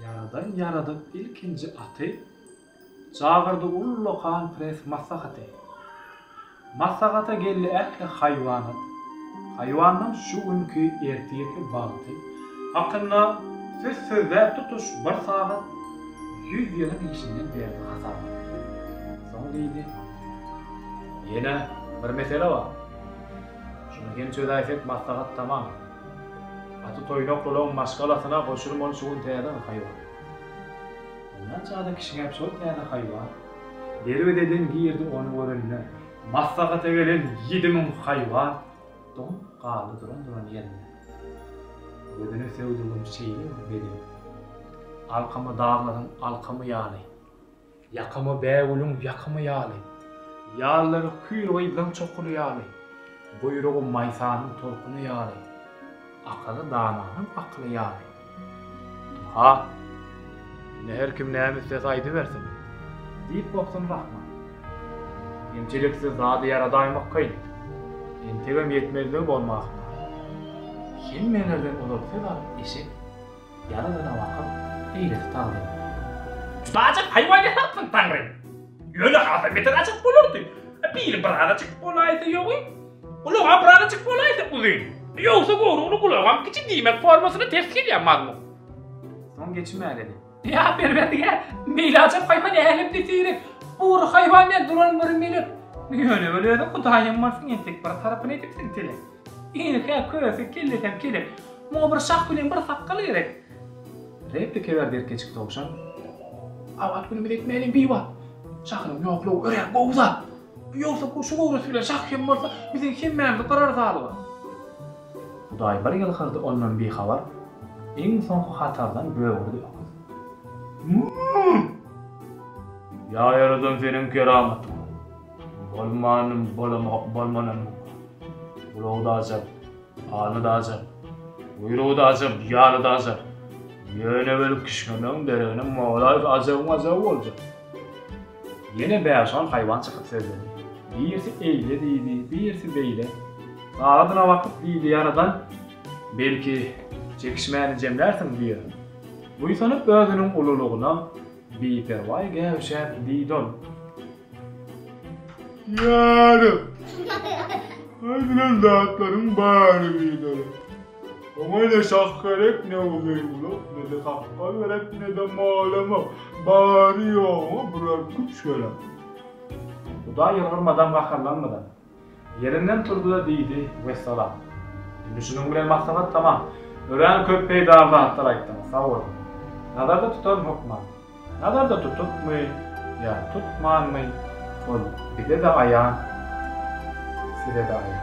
Ýaradan ýaradyp ilkinji aty, Çagyrdy ullakan prens maslahaty. Maslahata geldi ähli haýwanat, Haýwanlaň şu günki, ertirki bagty. Hakynda söz sözläp tutuş bir sagat, Ýüz ýylyň işinden berdi hasabat. Soň diýdi, Ýene bir mesele bar, Şuny hem çözäýsek maslahat tamam. Aty toýnaklulaň maşgalasyna goşuly bolup şu gün täze bir haýwan. Mundan çada kişiňem şol täze haýwan. Derwezeden girdi ony görenler. Maslahata gelen ýedi müň haýwan doňup galdy duran-duran ýerinde. Gözüne söwdügim şeýle bir beden. Alkamy daglaryň alkamy ýaly. Ýakamy bägülüň ýakamy ýaly. Ýallary kül gyzlaň çokuly ýaly. Guýrugy maýsanyň tolkuny ýaly. Akaly dananyň akyly ýaly. Aha! Indi her kim näme islese aýdybersin! diýip gobsany Rahman. Kemçiliksiz zady ýaradaýmak kyn. Entegem ýetmezligi bolmasyn! Hemmelerden ozal söz alyp eşek. Ýaradana bakyp, eýlesi tagzym. Çuda-ajap haýwan ýasapsyň, Taňry! Ýöne hasam beter ajap bolardy. Bili birazajyk bolaýsa ýogyn, gulagy-a birazajyk bolaýsa uzyn. Ýogsa gowrugyny gulagam kiçi diýmek formasyna ters gelýär mazmun. Soň geçim äledi. Ýa Perwerdigär, beýle ajap haýwan älemde seýrek. Bury haýwan däl, duran bir melek. Ýöne ol özüň Hudaýam bolsun entek bir tarapyny edipsiň, Telek. Ine-hä köse, kellesem kelek. Muňa bir şah bilen bir sakgal gerek. Replika berdi erkeçik towşan. Abat günümiz etmäliň biwagt. Şahynyň ýoklugy örän gowy zat. Ýogsa bu şu göwresi bilen şah hem bolsa, biziň hemmämizi gyrar zalymy. Hudaý bir ýylgyrdy ondan bihabar. Iň soňky hatardan böwürdi öküz. Mü-ü-ü! Ýa ýaradan seniň keramatyň. Bolmanym bolamok bolmanym Gulagy daja Aly daja Guýrugy daja Ýaly daja Ýöne welin kişňemegiň deregine Molaýys ajabyň ajaby boljak Ýene bäş-on haýwan çykyp sözledi Birisi eýle diýdi birisi beýle Sagadyna bakyp diýdi ýaradan Belki çekişmäni jemlärsiň diýen Buýsanyp özüniň ululygyna Biperwaý gäwüşäp diýdi ol Ýarym. Aýdylan zatlaryň bary biderek. Oňa ne şah gerek, ne uzyn gulak, ne-de sakgal gerek, ne-de mol-amyr. Bary-ýogyna birer küç gerek. Hudaý ýylgyrmadam, gaharlanmadam. Ýerinden turdy-da diýdi, Wessalam. Indi şunuň bilen maslahat tamam. Örän köp peýdaly zatlar aýtdyňyz, sag boluň. Nazarda tutaryn hökman. Nazarda tutupmy ýa tutmanmy, ol bize-de aýan, size-de aýan.